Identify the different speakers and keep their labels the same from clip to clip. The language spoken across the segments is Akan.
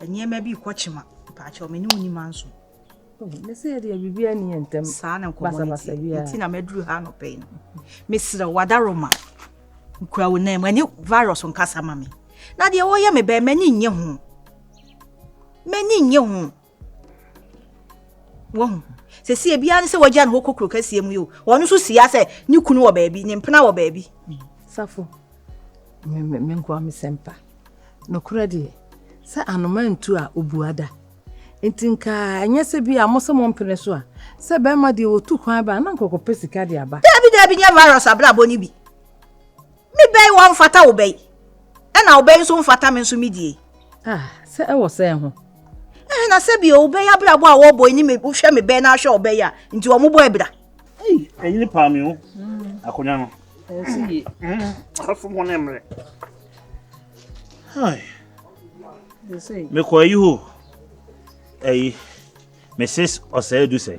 Speaker 1: Nneɛma bi rekɔ kyema. Mpakyɛw, me ne wo nni manso. Oh, ne sɛ
Speaker 2: yɛde biribi ani yɛ ntɛm. Saa na nkɔmmɔ no
Speaker 1: ti. Nti na maduru ha anɔpɛ yi no. Mesrɛ wo, wadaroma. Nkura wo nan mu. Ɛne virus nkasa ma me. Na deɛ wɔyɛ me bɛn, m'ani nnye ho. M'ani nnye ho. Wahu. Sɛsi ebiara ne sɛ wagya ne hɔ kɔ kuro kɛseɛ mu yi o. Wɔn nso si ya sɛ ne kunu wɔ baabi, ne mpena wɔ baabi. Safo,
Speaker 2: me nkoa me sɛmpa. Nokorɛ deɛ, sɛ anoma ntu a obua da. Nti nka ɛnyɛ sɛ bi a mo sɛ mo mpene so a, sɛ bɛrima deɛ wɔtu kwan ba a na nkɔkɔpɛ sika de aba. Daabi daabi nyɛ virus
Speaker 1: abrabɔ no bi. Me bɛ yi wɔmfata wo bɛ yi, ɛna wo bɛ yi nso mfata me nso me die. Ah, sɛ ɛwɔ
Speaker 2: sɛn ho? Eh, na sɛ bi
Speaker 1: o, wo bɛ yi abrabɔ a wɔbɔ yi ne me, wohwɛ me bɛ na ahwɛ wo bɛ yi a, nti wɔn bɔ abira. Ei, ɛyi ne
Speaker 3: paa me o, mm. akonnwa no. Ɛsi yie.
Speaker 2: Mm, afom
Speaker 3: ho ne mmerɛ.
Speaker 2: Hai. Mekɔ ayi hɔ
Speaker 3: ayi Mrs. Ɔsɛe du sɛ.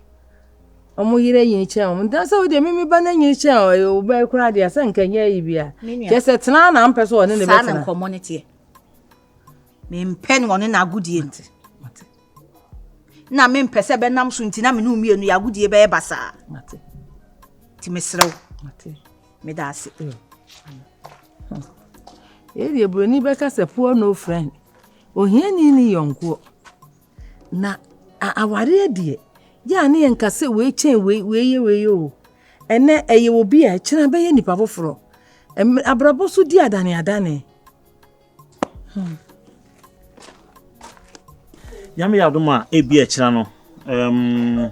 Speaker 2: wɔn yere anyini kyɛn wɔn nti sɛ wodeɛ mimi ba no anyini kyɛn ɔyɛ wo bɛɛ koraa deɛ sɛ nka nyɛ yi bia kyɛ sɛ tena na mpɛ sɛ ɔne ne bɛtena saa na nkɔmmɔ no teɛ
Speaker 1: mempɛ ne ɔne no agodie no na mempɛ sɛ bɛnam so nti na mene mmienu yɛ agodie bɛyɛ basaa
Speaker 2: nti
Speaker 1: meserɛ wo
Speaker 2: meda
Speaker 1: ase
Speaker 2: ɛdeɛ buroni bɛka sɛ poor no friend ohiani ne yɔnkoɔ Na awareɛ deɛ, yɛ a ne yɛnka sɛ wei kyɛn wei, wei yɛ wei yɛ o. Ɛnɛ ɛyɛ obi a ɛkyerɛ abɛyɛ nipa foforɔ. Abrabɔ so di adane adane. Hmm.
Speaker 3: Nyame yɛ adom a, ebi ɛkyerɛ no. Um,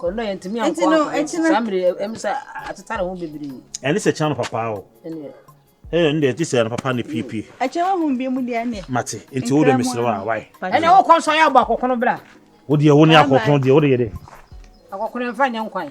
Speaker 3: Enti no,
Speaker 4: ɛkyena. Ɛne sɛ kyena no papaa
Speaker 3: o. Ɛyɛ ɛne deɛ ɛte sɛ no papa ne piepie. Ɛkyɛ wo ho bi mu
Speaker 1: deɛ ɛne. Mate, nti wo deɛ mesrɛ
Speaker 3: wa wae. Ɛne wo kɔn so ayɛ abɔ
Speaker 4: akɔkono bra. Wo deɛ wo ne
Speaker 3: akɔkono deɛ wo deɛ yɛ dɛ. Akɔkono ɛmfa
Speaker 4: nyɛ nkwan.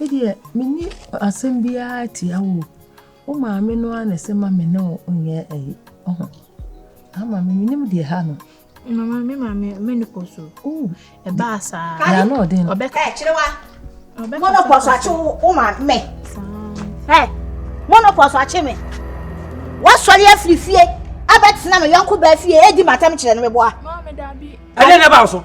Speaker 2: Me deɛ menni asɛm biara tia wo o, wo maame no ara na ɛsɛ ma me ne wo nyɛ ɛyi ɔho. Ah maame menim deɛ ha no. Mama me maame
Speaker 5: menopause o. Oh. Ɛbaa
Speaker 2: saa.
Speaker 5: Yɛ ano ɔden. Ɔbɛka. Ɛ
Speaker 2: kyerewa.
Speaker 1: Ɔbɛka. Monopause akye wo maame me. Ɛ monopause akye me. Wasɔre afiri fie abɛtena me yɔnko baa fie edi matam kyerɛ no meboa. Maame
Speaker 5: dabi. Ɛdɛ na ɛbaa so.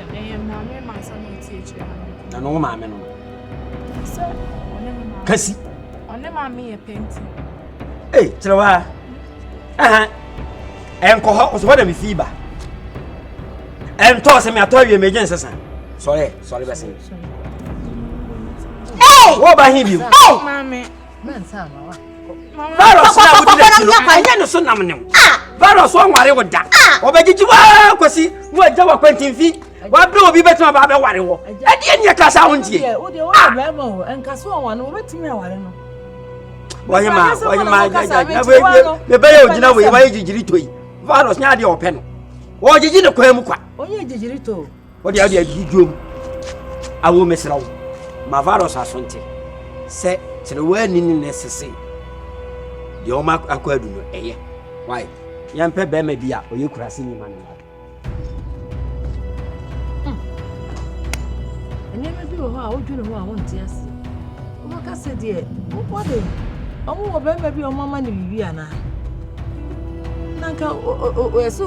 Speaker 5: Ɛyɛ maame ma nsɛm a ɛte akyire ha no. Na no wo maame no. Sɛ ɔne me
Speaker 6: maame. Kasi. Ɔne
Speaker 5: maame yɛ penti. Ee kyerɛ
Speaker 6: wa. Aha. Ɛnkɔ hɔ ɔsɛ hɔ na me fi ba. Ɛntɔ sɛ me atɔ awie me gye nsesa. Sɔre sɔre bɛsɛn. Ee. Wo ba hin bi. Ee. Maame.
Speaker 2: virus na
Speaker 6: wodi n'akyi no ɛnyɛ ne so nam ne wo ah! virus wɔnware wo da ah! wɔbɛgyegye waa kɔsi na wagya wɔ kwantimfi wabere obi bɛtumi aba abɛware wɔ ɛdeɛ neɛ ka saa wo ntie
Speaker 2: wɔhema
Speaker 6: wɔhema mebɛyɛ ogyina wei wɔyɛ gyigyiri to yi virus nyɛ adeɛ ɔpɛ no wɔgyegye ne kwan mu kwa
Speaker 2: wode ade adi
Speaker 6: dwom awo mesrɛ wo ma virus asonte sɛ kyerɛwani ne ne sese deɛ ɔma akɔ adu no ɛyɛ wae yɛmpɛ bɛrima bi a ɔyɛ kurase nyima no mma hmm.
Speaker 2: nneɛma bi wɔ hɔ a wodwene ho a wonte ase wobɛka sɛ deɛ wobɔde ɔmo wɔ bɛrima bi a ɔmo ama no biribi anaa na nka ɛsɛ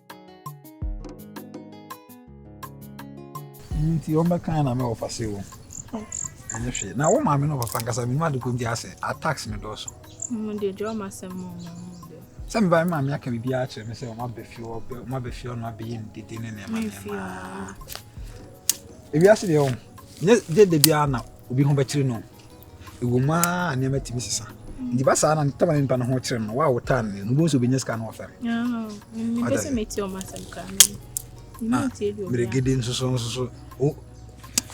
Speaker 7: nti wɔn bɛkan na mɛ wɔfa se wɔn ɛnyɛ hwee na wɔn maame na wɔfa nkasa mi mu adi ko nti asɛ attacks mi dɔɔso. mo de dwa ɔmo
Speaker 5: asɛm mo mo mo de. sɛ mi ba
Speaker 7: mi maame aka bibi akyerɛ mi sɛ ɔmo abɛ fi ɔbɛ ɔmo abɛ fi ɔno abɛyɛ mi dede ne nneɛma nneɛma ewiase deɛ wɔn nyɛ gye de biara na obi ho bɛkyerɛ no. Ɛwom aa nneɛma tumi sesa. Nti ba saa na ntam a nipa no ho kyerɛ no, wa wo taa no, no bo nso bɛnya sika no wɔfɛm. Mepɛ
Speaker 5: sɛ meti ɔmo asɛm kra me. Ah, Mmerɛgede nso so nso so.
Speaker 7: O,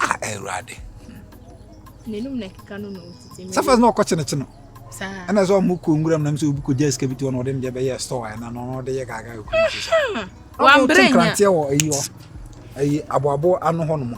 Speaker 7: ah, Awurade.
Speaker 5: N'anum na kika no na otiti. Sɛ fɛs na ɔkɔ kyenekye no.
Speaker 7: Saa. Ɛna sɛ
Speaker 5: ɔmo kɔ
Speaker 7: nwura mu na mo sɛ obi kɔ gya sika bi to hɔ na ɔde ne deɛ bɛyɛ store ayɛ na na ɔde yɛ gaagaa ekuru nso sa. Wɔn abere nya. Ɔmo
Speaker 5: te nkranteɛ wɔ ayi hɔ,
Speaker 7: ayi aboabo ano hɔ nom.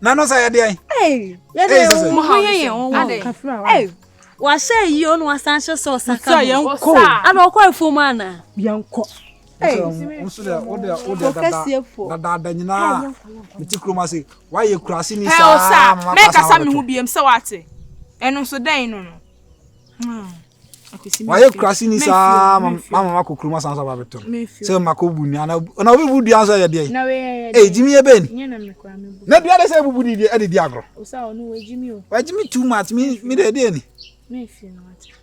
Speaker 7: na no sɛ yɛde ɛn yɛde ɛn
Speaker 8: mo ha yɛ yɛn
Speaker 5: wɔn
Speaker 8: wɔn wahyɛ yi o na wasan hyɛ sɛ ɔsaka no yɛn kɔ
Speaker 1: ana ɔkɔ efuom
Speaker 8: ana yɛn kɔ
Speaker 7: dadaada nyinaa mete kurom ase woayɛ kurase ni saa mɛkasa me
Speaker 5: ho biam sɛ woate ɛno nso dɛn no no
Speaker 7: wayɛ kurase ni saa ma ma ma kɔ kurom asan so aba bɛtɔ no sɛ ma kɔ bu nua na na obi bu dua nso yɛ deɛ ee gyimi
Speaker 5: yɛ bɛn
Speaker 7: na
Speaker 5: dua de sɛ ebubu di di
Speaker 7: ɛde di agorɔ
Speaker 5: wagyimi too much mi
Speaker 7: mi de ɛdeɛ ni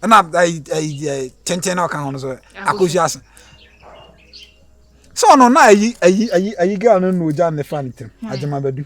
Speaker 5: ɛna ayi ayi
Speaker 7: ayi kyɛnkyɛn na ɔka ho no so akosi ase sɛ ɔno na ayi ayi ayi ayi girl no na ogya ne fa ne tɛm agyima bɛdu.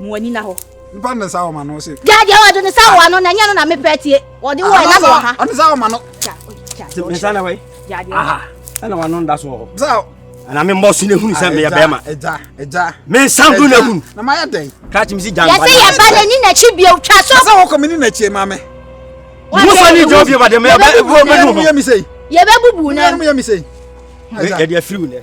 Speaker 1: mu
Speaker 7: ani
Speaker 1: na hɔ.
Speaker 7: nipa ne nsa wɔ ma no se. gya deɛ wɔde ne sa wɔ ano
Speaker 9: na ɛnyɛ no na mepɛ tie wɔde wɔ ɛna wɔ ha. ɔne sa wɔ ma no.
Speaker 7: ne nsa
Speaker 6: na wai. aha
Speaker 9: ɛna wɔn
Speaker 6: ano nda so wɔ hɔ. sa ana me
Speaker 7: mbɔ so
Speaker 6: na ehunu sɛ meyɛ bɛrima me
Speaker 7: nsan do na
Speaker 6: ehunu kati
Speaker 7: mi si gya nkwa yɛsɛ
Speaker 6: yɛ ba n'ani n'akyi
Speaker 9: bie twa so. sɛ wɔkɔ mi ni n'akyi maa
Speaker 7: mi. musa
Speaker 6: ni jɔ bie ba de mɛ yɛ bɛ bɔ mɛ nu hɔ. yɛ
Speaker 7: bɛ bubu na. yɛ de
Speaker 6: afiri wu nɛ.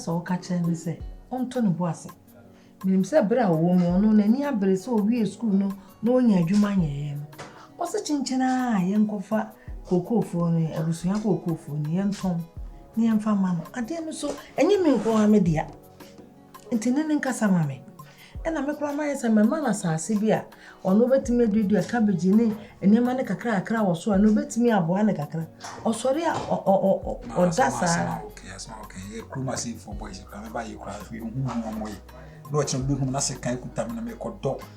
Speaker 2: sɛ ɔka kyerɛ ne sɛ ɔntɔ ne bo ase menim sɛ berɛ a ɔwɔ mu ɔno n'ani abere sɛ ɔwie sukuu no na onya adwuma nyɛeɛ no, ɔse kyenkyen ara a yɛnkɔfa kookoofoo no, abusua kookoofoo no, yɛntɔn na yɛmfa mma no. Adeɛ no nso, ɛnyɛ me nko ara me dea, nti ne ne nkasa ma me. Ɛna me koraa mayɛ sɛ mɛma no asase bi a ɔno bɛtumi aduadua cabbage ne nneɛma no kakra kakra wɔ so a ɛno bɛtumi aboa no kakra. Ɔsɔre a ɔda saa. Kurom
Speaker 7: asefoɔ boys koraa mɛba yɛ koraa, yɛhu wɔn wɔyɛ na ɔkyena bɛhu no asɛ kan kuta me na mekɔdɔ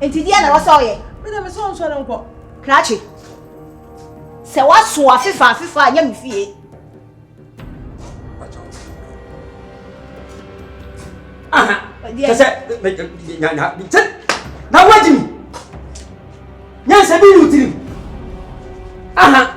Speaker 2: Nti deɛ
Speaker 1: na ɛwɔ sɛ ɔyɛ? Me deɛ mese ɔnsɔre nkɔ.
Speaker 2: Krakye.
Speaker 1: Sɛ waso afefa afefa a nyɛ me fie. Aha. Kyɛ
Speaker 6: sɛ na na sɛ na wagyi mi. Nyansa bi ne wo tirim. Aha.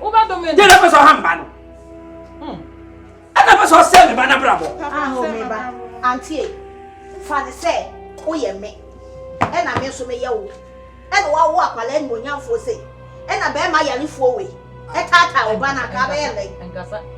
Speaker 6: wobɛdome no yɛna pɛ sɛ ɔha mba no hmm. ɛna pɛ sɛ ɔsɛ me ba no abrabɔ aho me ba
Speaker 1: antie fa ne sɛ woyɛ me ɛna me nso meyɛ wo ɛna woawo akwala animonyamfoɔ sei ɛna bɛrima yarefoɔ wei ɛtaataa wo ba no anka bɛyɛ lɛ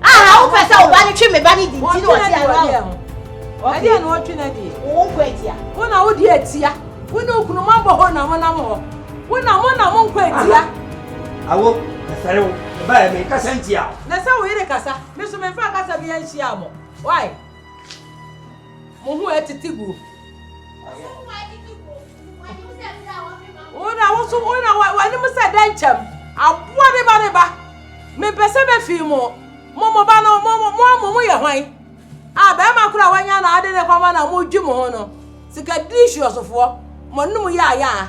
Speaker 2: Aha wo pɛ sɛ wo ba
Speaker 1: no twe me ba no di nti na ɔte ano adeɛ
Speaker 2: ho. Ɛdeɛ na ɔtwe no adeɛ. Wo nkɔ atia. Wo
Speaker 1: na wodi atia.
Speaker 2: Wo ne okunu mo abɔ hɔ na mo nam hɔ. Wo na mo na mo nkɔ atia. Awo
Speaker 6: mefɛre wo. Meba yɛ me nkasa ntia wo. Na sɛ wo yere kasa.
Speaker 2: Me so me nfa kasa bi anhyia mo. Why? Mo ho
Speaker 9: atete gu. Wona
Speaker 2: woso wona w'anim sɛ dɛ nkyɛm aboa ne ba ne ba mepɛ sɛ bɛfii mo mo mo ba no mo mo mo mo yɛ hwan a bɛrima koro a wanya na ade ne kɔma na modwi mo ho no sika diri hwiɔsofoɔ mo ne mo yɛ ayaa